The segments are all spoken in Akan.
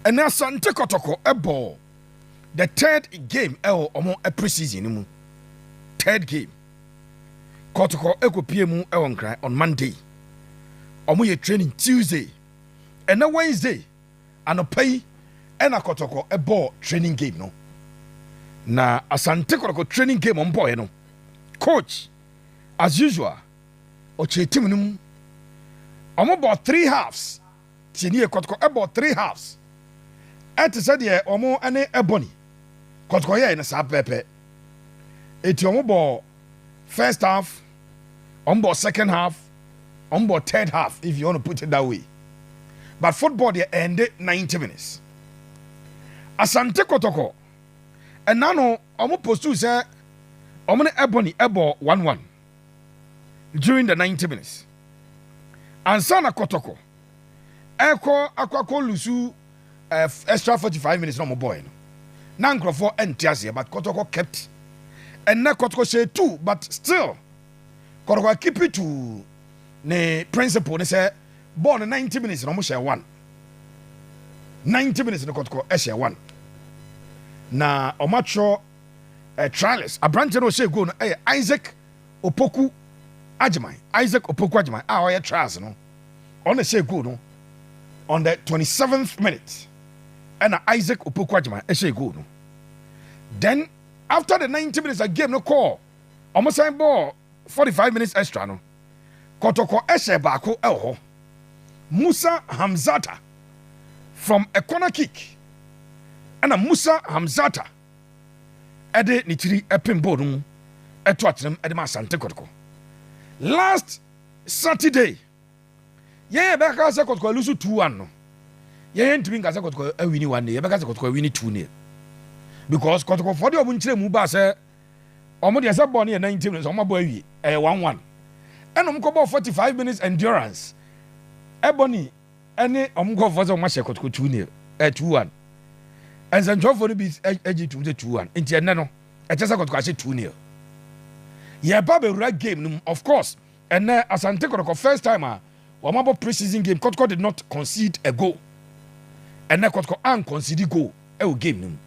ɛna Asante Kɔtɔkɔ bɔɔ the third game ɛwɔ ɔmo pre-season no mu. Third game. Kɔtɔkɔ ɛkɔpie mu ɛwɔ Nkran on Monday. Ɔmo yɛ training Tuesday. Ɛna Wednesday anɔpa yi ɛna Kɔtɔkɔ ɛbɔɔ training game no. Na Asante Kɔtɔkɔ training game ɔmo bɔɔɛ no. Coach as usual ɔkyerɛ team no mu. Ɔmo bɔɔ three halves. Tie nie, Kɔtɔkɔ bɔ three halves te sɛ deɛ wɔn ne Ebony. Kɔtɔkɔ yɛɛ no saa pɛpɛpɛ. Eti wɔn bɔ first half, wɔn bɔ second half, wɔn bɔ third half if you want to put it that way. But football deɛ ɛnde ninety minutes. Asante Kɔtɔkɔ ɛna no wɔn postuu sɛ wɔn ne Ebony bɔ one one. during the ninety minutes ansa na kɔtɔkɔ ɛkɔ akɔ akɔ lusu eh, extra forty five minutes na wɔn bɔɔɛ no na nkurɔfoɔ ɛnte aseɛ but kɔtɔkɔ kept ɛnna kɔtɔkɔ hyɛ two but still kɔtɔkɔ akipi two ne principle ne sɛ bɔɔl no ninety minutes na wɔn hyɛ one ninety minutes ne kɔtɔkɔ ɛhyɛ one na wɔn atwerɛ. Trials. Aberanteɛ no a ɔhyɛɛ goal no yɛ Isaac Opoku Agyeman. Isaac Opoku Agyeman a ɔyɛ Trials no, ɔno na ɛhyɛɛ goal no on the 27th minute ɛna Isaac Opoku Agyeman ɛhyɛɛ goal no. Then after the 90 minutes a game no kɔɔ wɔn san bɔɔ 45 minutes extra no, Kɔtɔkɔ ɛhyɛɛ baako ɛwɔ hɔ. Musa Hamzata from a corner kick ɛna Musa Hamzata ɛde ne tiri pem bowl no mu to atenam de ma Asante Kɔtɔkɔ. Last Saturday, yɛn yɛ bɛka sɛ Kɔtɔkɔ alusu 2-1 no, yɛn yɛ ntumi nka sɛ Kɔtɔkɔ awini 1 ne, yɛbɛka sɛ Kɔtɔkɔ awini 2 ne. Because Kɔtɔkɔfoɔ de wɔn nkyerɛ mu baa sɛ wɔn deɛ sɛ bɔɔl no yɛ 90 minutes, wɔn abɔ awie, ɛyɛ 1-1. Ɛna wɔn kɔbɔɔ 45 minutes endurance, ɛbɔ ni. ne wɔn nkurɔfoɔ sɛ wɔahyɛ kɔtɔkɔ two nil ɛɛ two one nsɛntwerɛfoɔ no bi gye tom sɛ two one nti ɛnnɛ no ɛkyɛ sɛ kɔtɔkɔ ahyɛ two nil yɛba bɛwura game no mu of course ɛnnɛ asante kɔtɔkɔ first time a wɔn abɔ pre-season game kɔtɔkɔ did not concede a goal ɛnnɛ kɔtɔkɔ an concede goal ɛwɔ game no mu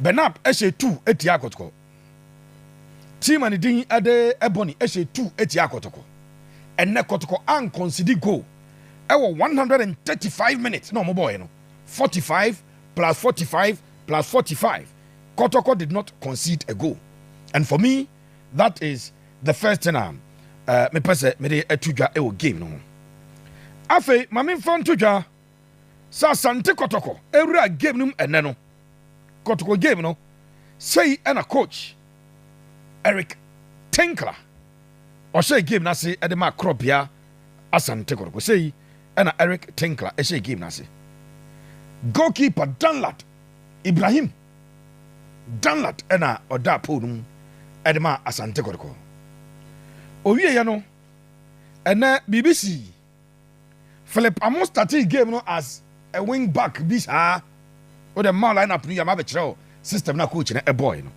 bernard ɛhyɛ two ɛtia kɔtɔkɔ Team a ne din de Ebony hyɛ two atia Kotoko. Ɛnnɛ Kotoko ankɔnsidi goal ɛwɔ 135 minutes na wɔn bɔɔɛ no 45 plus 45 plus 45 Kotoko did not concede a goal and for me that is the first thing a uh, mepɛ sɛ mede ato dwa ɛwɔ game no ho. Afei ma memfa nto dwa sɛ Asante Kɔtɔkɔ wura game no mu ɛnnɛ no, Kɔtɔkɔ game no, sei na coach Eric Tinkler ɔhyɛɛ game no ase de maa korɔbea Asante Kɔtɔkɔ. Sei na Eric Tinkler hyɛɛ game no ase. Goalkeeper Danlad Ibrahim Danlad na ɔdaa pole no mu de maa Asante Kɔtɔkɔ. Owieɛ no, ɛnɛ biribi sii. Philip ɔmo startee game no as a wing back bi saa. Wodɛ mma wo line up no yie a mabɛkyerɛ wo system no a coach no ɛbɔɔe no.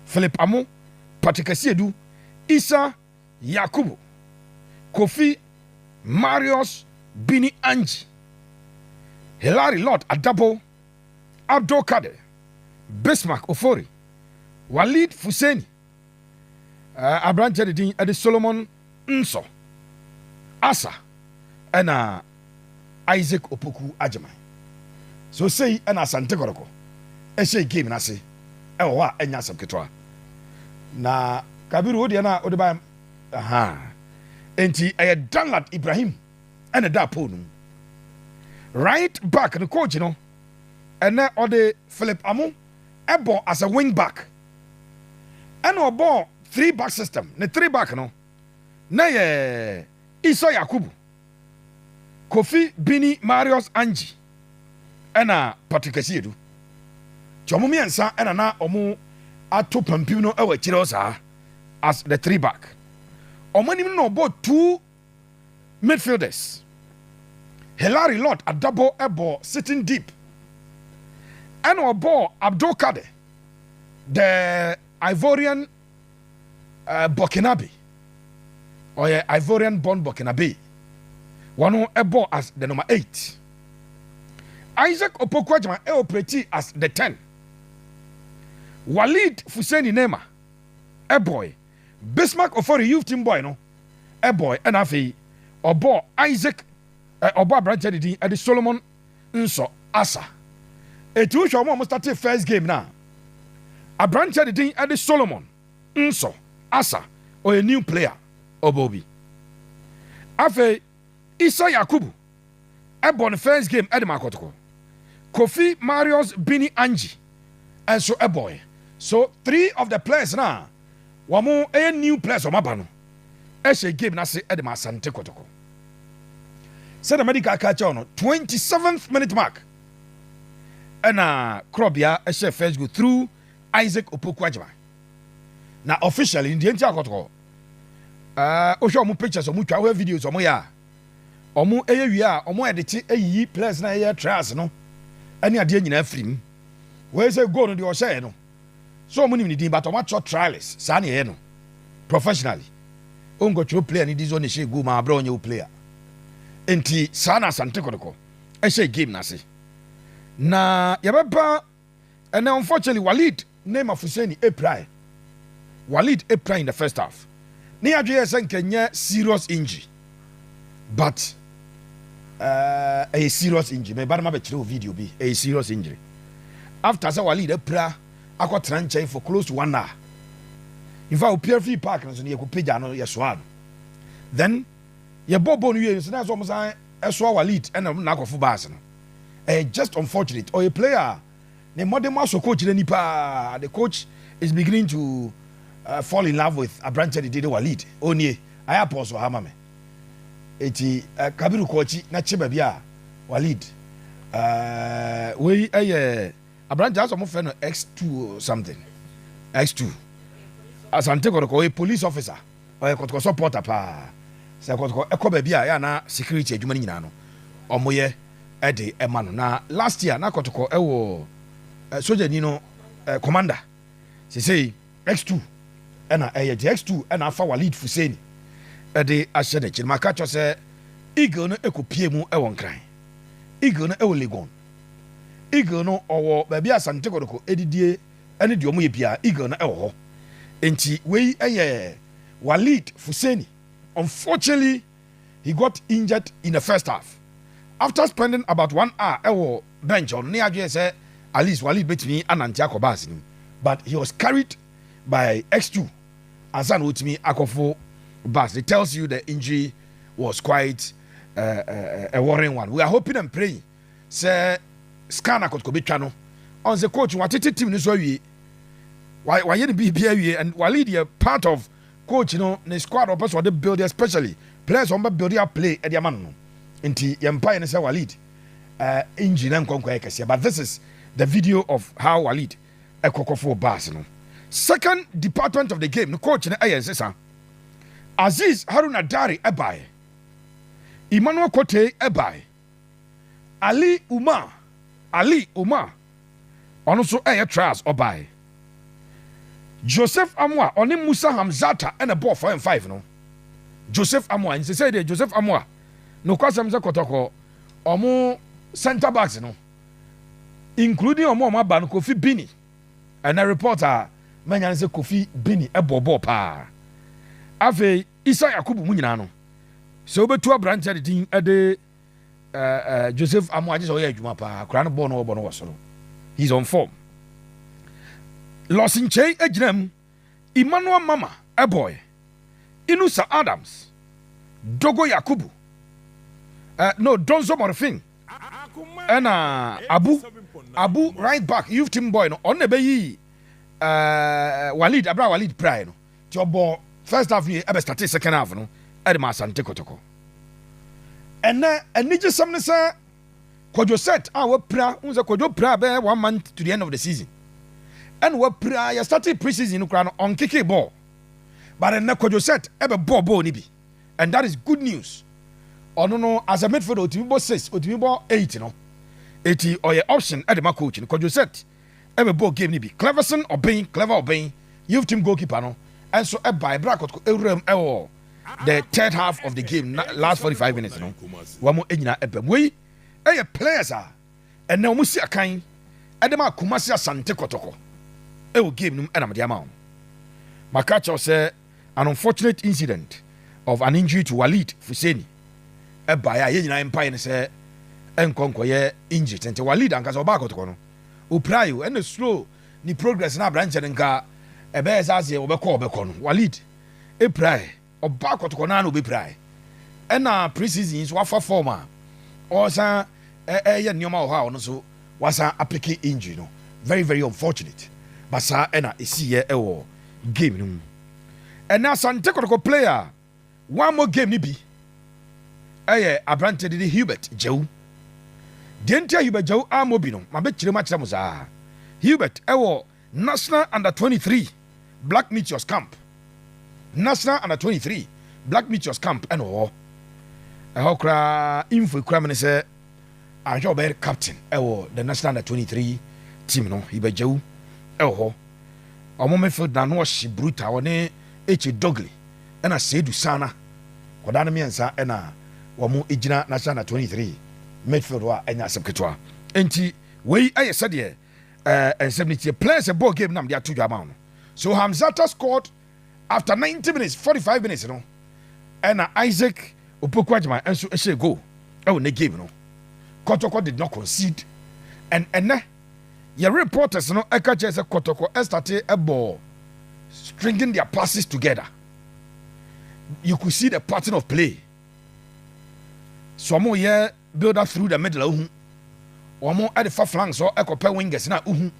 Philip ɔmo, Patrick Asiedu, Issa Yakubu, Kofi, Marius, Bini Anji, Hilary Lord Adabo, Abdul Kader, Bismarck Ofori, Walid Fuseni, Aberanteɛ de din de Solomon Nso, Asa, ɛna Isaac Opoku Agyeman. So sei ɛna Asante Kɔtɔkɔ ɛhyɛ game n'ase ɛwɔ hɔ a ɛnyɛ asɛm ketewa. Na Kabiru wodeɛ na wode ba aha. Enti ɛyɛ Danlad Ibrahim ɛna da pole no mu. Right back no coach no ɛnɛ ɔde Philip Amu ɛbɔ as a wing back. Ɛna ɔbɔɔ three back system, ne three back no na yɛ Issa Yakubu, Kofi Bini Marius Anji ɛna Patrick Asiedu. Nti ɔmo mmiɛnsa ɛna na ɔmo ato pampim no ɛwɔ akyire hɔ saa as the three back. Ɔmo anim no na ɔbɔɔ two midfielders Hilary Lord Adabo bɔɔ sitting deep ɛna ɔbɔɔ Abdul Kader the Ivorian uh, Burkinabe ɔyɛ Ivorian born Burkinabe wɔn ɛbɔɔ as the number eight Isaac Opoku Agyama ɛoperate as the ten Walid Fuseni Neymar ɛbɔɔe Bismarck Ofori Youth Team bɔe no bɔe ɛna afei ɔbɔɔ Isaac ɛ ɔbɔ aberanteɛ ne din de Solomon Nso Asa. Eti wohwɛ wɔn a wɔn startee first game no a aberanteɛ ne din de Solomon Nso Asa ɔyɛ new player ɔbɔ obi. Afei Isa Yakubu. bɔ ne first game de maa Kotoko. Kofi Marius Bini Anji nso bɔɔe. So three of the players no a wɔyɛ new players a wɔaba no hyɛɛ game no ase de maa Asante Kotoko. Sɛdeɛ madi ka aka kyɛw no, 27th minute mark ɛna Korɔbea hyɛɛ first goal through Isaac Opoku Agyima. Na officially, deɛ nti a Kotoko, wohwɛ wɔn pictures, wɔn twa, wohwɛ videos wɔn yɛ a, Wɔn yɛ wie a, wɔn ɛde kye eyiyi players na yɛyɛ trials no ɛne adeɛ nyinaa firi mu. Wɔyɛ sɛ goal no deɛ ɔhyɛɛ no. So wɔn nim ne din but wɔn atwerɛ trials saa na yɛyɛ no professionally. Wonkɔtwerɛ player ne din sɛ ɔna ɛhyɛɛ goal ma abrɛ ɔnyɛ wo player. Nti saa na Asante Kɔtɔkɔ ɛhyɛɛ game no ase. Na yɛbɛba and unfortunately Walid ne Mafuseni pirae. Walid pirae in the first half. Ne yɛadwe yɛ sɛ nka nyɛ serious injury. But uh, ɛyɛ serious injury. Mɛba no mabɛkyerɛ o video bi. Ɛyɛ serious injury. After sɛ Walid apira akɔtena nkyɛn for close to one hour. In fact, opira free park no so no yɛkɔpagya no yɛsoa no. Then yɛbɔ bɔ no wie no sɛ na sɛ ɔmo san ɛsoa Walid ɛna ɔmo na akɔfo baase no. ɛyɛ just unfortunate ɔyɛ player a ne mmɔden mu asɔ coach n'ani paa the coach is beginning to uh, fall in love with aberanteɛ de de de wa lead ɔnie ayɛ apɔn so ha ma me eti uh, kabiru kɔ akyi na kye baabi a wa lead uh, wei ɛyɛ aberanteɛ asɔ mo fɛ no x2 something x2 asante kɔdɔkɔ ɔyɛ police officer Ɔyɛ kɔtɔkɔsɔ porter paa. Sɛ kɔtɔkɔ kɔ baabi a ɛyɛ a na security adwuma no nyinaa no ɔmo yɛ de ma no. Na last year na kɔtɔkɔ wɔ sogyani no commander sesei X2 ɛna ɛyɛ nti X2 ɛna afa Walid Fuseni ɛde ahyɛ n'akyi. Maka kyerɛ sɛ Eagle no ɛkɔ pie mu ɛwɔ Nkran. Eagle no ɛwɔ Legon. Eagle no ɔwɔ baabi a Asante kɔtɔkɔ ɛdidie. ɛne deɛ wɔyɛ biara eagle no ɛwɔ hɔ nti wei ɛyɛ Walid Fuseni unfortunately he got injured in the first half after spending about one hour ɛwɔ bench hɔ no ne yɛadwene sɛ at least Walid bɛtumi anante akɔ bus no mu but he was carried by X2 ansa na ɔtumi akɔfo bus it tells you the injury was quite uh, uh, uh, a worrying one we are hoping and praying sɛ scan akɔtɔkɔ bɛtwa no ɔn sɛ coach watete team no so awie wayɛ ne biribi awie and walead yɛ part of coach no ne squad ɔpɛ sɛ ɔde build especially players ɔn bɛ build a play ɛde ama no no nti yɛn mpa yɛ ne sɛ walead uh, injury na nkɔnkɔ yɛ kɛseɛ but this is the video of how walead ɛkɔkɔfo bars no second department of the game no coach no ɛyɛ nsesa Aziz Haruna Dari ɛbaeɛ Emmanuel Kotei ɛbaeɛ Ali Umar, Ali Umar, ɔno nso ɛyɛ trials ɔbae. Joseph Amoah ɔne Musa Hamzata na ɛbɔɔ four and five no. Joseph Amoah nsesɛ deɛ Joseph Amoah nokwasɛm sɛ kɔtɔkɔ ɔmo center backs no including ɔmo ɔmo aba no Kofi Bini ɛnɛ report a manya no sɛ Kofi Bini ɛbɔɔ bɔɔl paa afei Isa Yakubu mu nyinaa no, sɛ wobɛtu aberanteɛ de din de Joseph Amoah agye sɛ ɔyɛ adwuma paa, akora no bɔɔ no wɔbɔ no wɔ soro. He's on form. Los Nkyei agyina mu, Emmanuel Mama ɛbɔɔɛ, Inusa Adams, Dogo Yakubu, uh, no, Donzo Morfin, ɛna Abu, Abu right back, youth team boy no, ɔno na ɛbɛyi uh, Walid, abira Walid praɛ no. Nti ɔbɔɔ first half no yie ɛbɛ startee second half no ɛde maa Asante Kotoko. Ɛnɛ anigyesɛm ne sɛ Kwadwo set a wapira, wohu sɛ Kwadwo piraa bɛyɛ one month to the end of the season. Ɛna wapira, yɛ startee pre-season no koraa no ɔnkekee bɔɔl. But ɛnɛ Kwadwo set ɛbɛbɔɔ bɔɔl no bi and that is good news. Ɔno no as a midfielder otumi bɔ six, otumi bɔ eight no. Eti ɔyɛ option ɛde ma coach no Kwadwo set. bɛbɔɔ game no bi. Cleverson Obeng, Clever Obeng, youth team goalkeeper no nso bae bere a Kotoko wuram wɔ the third half of the game, na last 45 minutes no wɔn nyinaa baam. Wei yɛ players a ɛnnɛ wɔn si akan de ma Kumasi Asante Kotoko wɔ game no mu na mede ama wɔn. Maka kyerɛw sɛ An unfortunate incident of an injury to Waleed Fuseni baeɛ a yɛn nyinaa mpaeɛ ne sɛ ɛnkɔ nkɔyɛ injury tenten. Waleed ankasa ɔbaa kɔtɔkɔ no, ɔpirae o, ɛna slow ne progress no aberanteɛ no nka ɛbɛyɛ sɛ aseɛ ɔbɛkɔ ɔbɛkɔ no, Waleed pirae, ɔbaa kɔtɔkɔ no ara na ɔbɛpirae. Ɛna pre-season yi nso wafa form a ɔresan ɛyɛ nneɛma wɔ hɔ a ɔno nso wasan apeke injury no very very unfortunate but saa ɛna ɛsiiɛ ɛwɔ game no mu ɛnɛ Asante Kotoko player a wammɔ game no bi ɛyɛ aberanteɛ de ne Hubert Gyawu deɛ nti a Hubert Gyawu ammɔ bi no mabɛkyerɛ mu akyerɛ mo saa Hubert ɛwɔ National Under twenty three Black Meteors Camp National Under twenty three Black Meteors Camp ɛna ɔwɔ ɛhɔ koraa info ekura mi ne sɛ ahwɛ ɔbɛyɛ captain ɛwɔ the National Under twenty three team no ibɛgyawu ɛwɔ hɔ ɔmo midfield na no ɔhye bruta ɔne eche dogly ɛna seedu sana kɔdaa no mmiɛnsa ɛna wɔn egyina National Under twenty three midfield hɔ a ɛnyɛ asɛm ketewa nti wei ɛyɛ sɛdeɛ Eh, nsɛm no tie. Players ɛbɔɔ game na mede ato dwa ama wo no. So Hamzata scored after 90 minutes, 45 minutes no. Ɛna Isaac Opoku Agyeman nso hyɛɛ goal ɛwɔ ne game no. Kɔtɔkɔ did not concede. And ɛnɛ, yɛ reporters no ɛka kyerɛ sɛ Kɔtɔkɔ ɛstate ɛbɔɔ stringing their passes together. You could see the pattern of play. So ɔmo yɛ Builder through the middle a wohu wɔn de fa flanks hɔ kɔpɛ wingers no a wohu.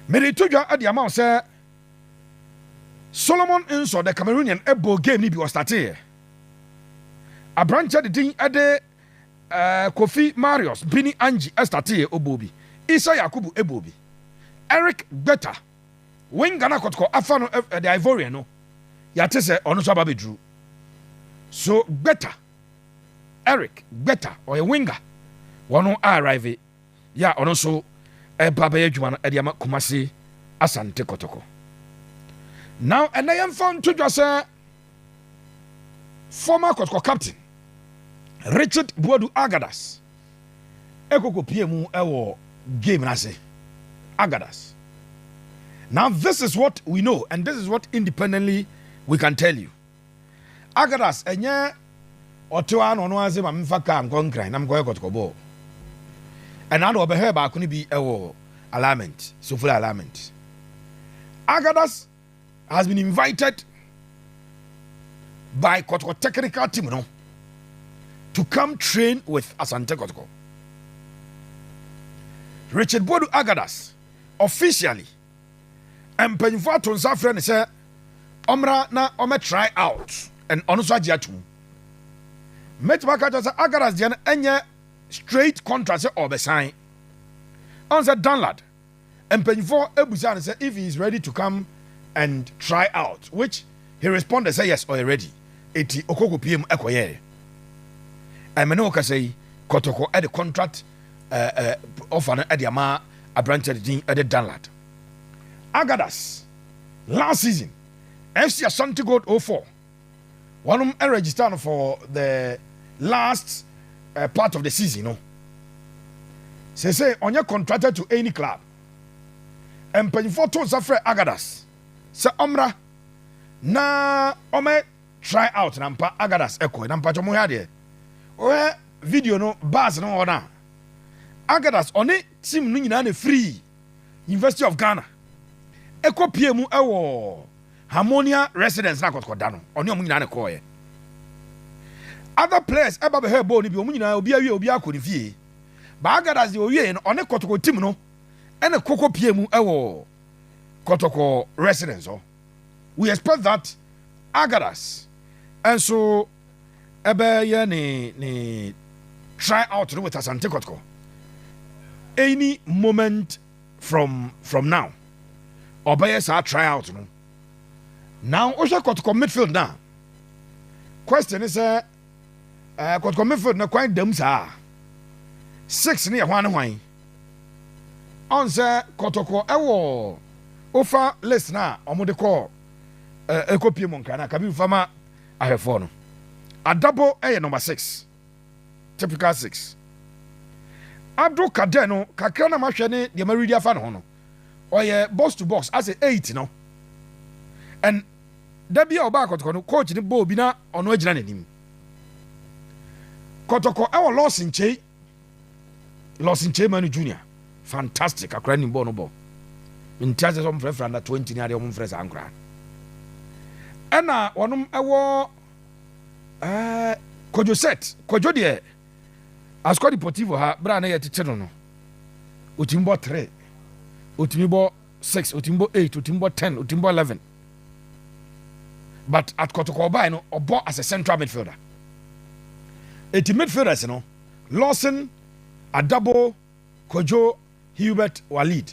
Mereto dwa de ama wo sɛ Solomon Nsor the Cameroonian bɔɔ game no bi ɔstarteeɛ. Aberanteɛ de din de eh, Kofi Marius Bini Anji starteeɛ ɔbɔɔ bi. Issa Yakubu bɔɔ bi. Eric Gbeta, winger no a Kɔtɔkɔ afa no, eh, the Ivorian no, yɛate sɛ ɔno nso aba abɛduru. So Gbeta. Eric Gbeta, ɔyɛ winger wɔ no arrive yɛ a ɔno nso ɛreba bɛyɛ adwuma no de ama Kumasi Asante Kotoko. Na ɛnɛ yɛmfa nto dwa sɛ former Kotoko captain Richard Buadu Agadas ekokopie mu wɔ game no ase. Agadas. Now this is what we know and this is what independently we can tell you. Akadas ɛnyɛ ɔtew ara na ɔno ara se ma memfa kaa nkɔ Nkran na menkɔyɛ kɔtɔkɔbɔɔ. Ɛnna na ɔbɛhwɛɛ baako no bi wɔ alignment, sofula alignment. Akadas has been invited by kɔtɔkɔ technical team no to come train with Asante Kotoko. Richard Bodu Akadas officially mpanyimfo ato nsa afrɛ no sɛ ɔmmra na ɔmmɛ try out and ɔno nso agye atom. Mɛtumi aka kyerɛ sɛ Agaras deɛ no ɛnyɛ straight contract sɛ ɔbɛsan. Ɔn sɛ Danlad, mpanyimfo ebusaa no sɛ if he is ready to come and try out which he responded sɛ yes ɔyɛ ready. Eti ɔkɔ kɔpie mu ɛkɔyɛɛ. Ɛmene wo kasa yi, Kɔtɔkɔ ɛde contract ɔfa no de ama aberanteɛ no din de danlad agadas last season fc ashanti gold 04 wɔnom register no for the last uh, part of the season no sese ɔnyɛ contracted to any club mpanyinfoɔ to nsa frɛ agadas sɛ ɔmmra na ɔmɛ Try out na mpa agadas ɛkɔɛ na mpakyɛ mohwɛ adeɛ wohwɛ video no bus no hɔ no a agadas ɔne team no nyinaa na free University of Ghana ɛkɔ pie mu ɛwɔ Harmonia residence na akɔkɔ da no ɔne ɔmo nyinaa na ɛkɔɔyɛ other players ɛba bɛhwɛ bɔɔl no bi ɔmo nyinaa obi awie obi akɔ ne fie ba agadas deɛ owie no ɔne kɔtɔkɔ team no ɛna kɔkɔ pie mu ɛwɔ kɔtɔkɔ residence hɔ. we expect that Agadas nso ɛbɛyɛ ne ne try out no with Asante Kɔtɔkɔ any moment from from now ɔbɛyɛ saa try out no now wohwɛ Kɔtɔkɔ midfield na question ne sɛ Ɛɛ Kɔtɔkɔ Mayfield na kwan dam saa a, six no yɛ hwan ne hwan? Ɔn sɛ Kɔtɔkɔ ɛwɔ ofa list no a wɔn de kɔ ɛɛ ɛkɔ pie mu nkran a Kabiru fa ma ahwɛfoɔ no. Adabo ɛyɛ number six, typical six. Ado Kadɛ no kakra na mahwɛ ne deɛ ma read afa ne ho no, ɔyɛ box to box asɛ eight no. And Da bi a ɔbaa kɔtɔkɔ no, coach no bɔɔ obi na ɔno agyina n'anim. Kɔtɔkɔ ɛwɔ Lɔs Nkyei, Lɔs Nkyei Manu Junior, fantastic akora nim bɔɔl no bɔ. Nti asɛ sɛ ɔmfrɛfrɛ under 20 ne adeɛ ɔmfrɛ saa nkora. Ɛna wɔnom ɛwɔ ɛɛ eh, Kwadwo set, Kwadwo deɛ Asukɔ Deportivo ha berɛ a na yɛtete no no, ɔtumi bɔ tre, ɔtumi bɔ six otumi bɔ eight otumi bɔ ten otumi bɔ eleven but at kɔtɔkɔ ɔbae no ɔbɔ as a central midfielder eti midfielders no lawson adabo kojo hubert walid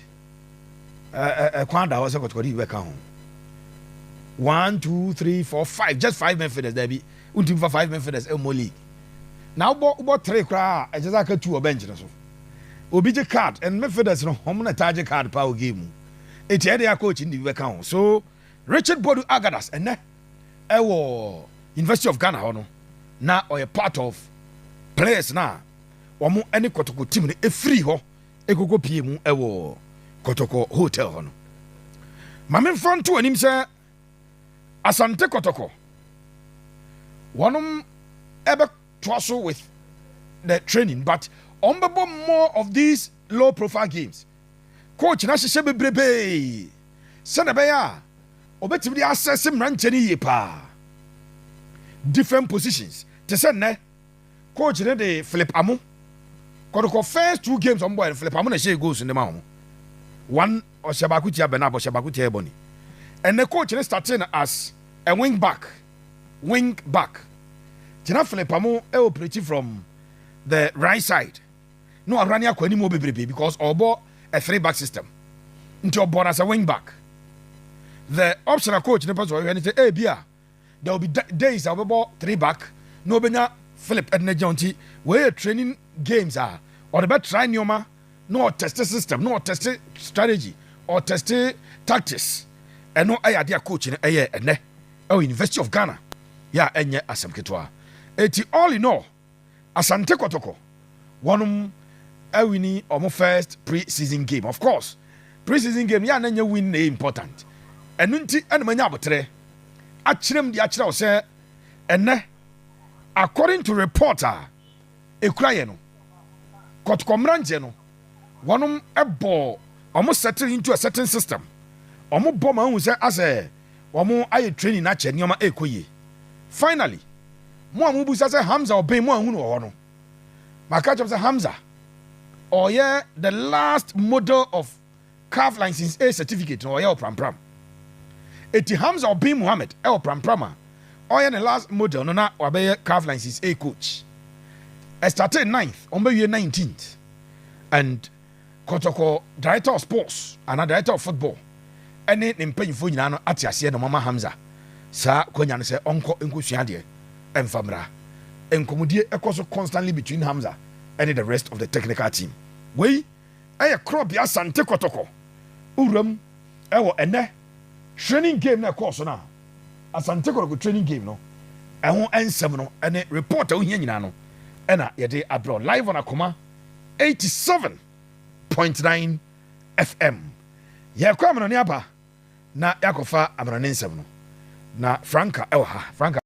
ɛkwan da hɔ sɛ kɔtɔkɔ de bi bɛka ho one two three four five just five midfielders dabi ntumi fa five midfielders ɛmmɔ league na wobɔ wobɔ three koraa a ɛkyɛ sɛ aka two wɔ bench no so Obi gye card and midfielders no hom na taa gye card paa wɔ game mu. Ntsi ɛyɛ dɛn a coach no dze bi bɛka ho? So Richard Boadu Agadas ndɛ wɔ University of Ghana hɔ no na ɔyɛ part of players no a wɔn ne Kɔtɔkɔ team no firii hɔ kɔkɔ pie mu wɔ Kɔtɔkɔ hotel hɔ no. Ma memfa nto w'anim sɛ Asante Kɔtɔkɔ wɔnom ɛbɛ toa so with the training but wɔn bɛbɔ more of these low profile games coach na hyehyɛ bebrebee sɛnea ɛbɛyɛ a ɔbɛtumi de asɛse mmeranteɛ no yie paa different positions te sɛ nnɛ coach no de Philip Amo kɔdokɔ first two games wɔn bɔɛ no Philip Amo na ɛhyɛ goals no ma wɔn one ɔhyɛ baako tia Bernard ɔhyɛ baako tia Ebony ɛnɛ coach no starting as a wing back. wing-back, gyina Fleipamo operate from the right side na wa run akɔ anim hɔ bebrebe because ɔbɔ a three back system nti ɔbɔ no as a wing back the option a coach no pɛ sɛ ɔhwɛ ne sɛ ebi a there will be days a ɔbɛbɔ three back na ɔbɛnya Philip ɛde n'agyina nti wɔyɛ training games a ɔde bɛ try nneɛma na ɔtɛste system, na ɔtɛste strategy, ɔtɛste tactics. Ɛno yɛ adeɛ a coach no ɛyɛ ɛnɛ ɛwɔ University of Ghana. Yɛ a ɛnyɛ asɛm ketewa. Eti all in all, Asante Kɔtɔkɔ wɔnom awini wɔn first pre-season game. Of course, pre-season game yɛ a na nyɛ win na ɛyɛ important. Ɛno nti na manya aboterɛ akyerɛ mu de akyerɛ wo sɛ ɛnɛ according to report a ekura yɛ no, kɔtɔkɔ mberanjɛ no, wɔnom bɔ ɔmo settle into a certain system, ɔmo bɔ ma ehu sɛ asɛ ɔmo ayɛ training na akyɛ nneɛma ekɔ yie. Finally, mo a mo busa sɛ Hamza Obeng mo anhu no wɔ hɔ no, maka akyerɛ mo sɛ Hamza ɔyɛ the last model of Calf License A Certificate no ɔyɛ ɔprampram. Eti Hamza Obeng Mohamed wɔ prampram a ɔyɛ ne last model no na wabɛyɛ Calf License A coach. Ɛstartee ninth, wɔbɛwie nineteenth. And Kɔtɔkɔ Director of Sports anaa Director of Football ne ne mpanyinfoɔ nyinaa no ate aseɛ na wɔama Hamza saa kwanya no sɛ ɔnkɔ nkɔsua adeɛ mfa mmra. Nkɔmmɔdie kɔ so constantly between Hamza ne the rest of the technical team. Wei yɛ Korɔbea Asante Kɔtɔkɔ wuram wɔ ɛnnɛ training game no a ɛkɔɔ so no a Asante Kɔtɔkɔ training game no ɛho nsɛm no ne report a wohia nyinaa no ɛna yɛde abrɛ wo live on akoma 87.9 FM. Yɛkɔ amanɔne aba na yɛakɔfa amanɔne nsɛm no na Franka ɛwɔ ha. Franka.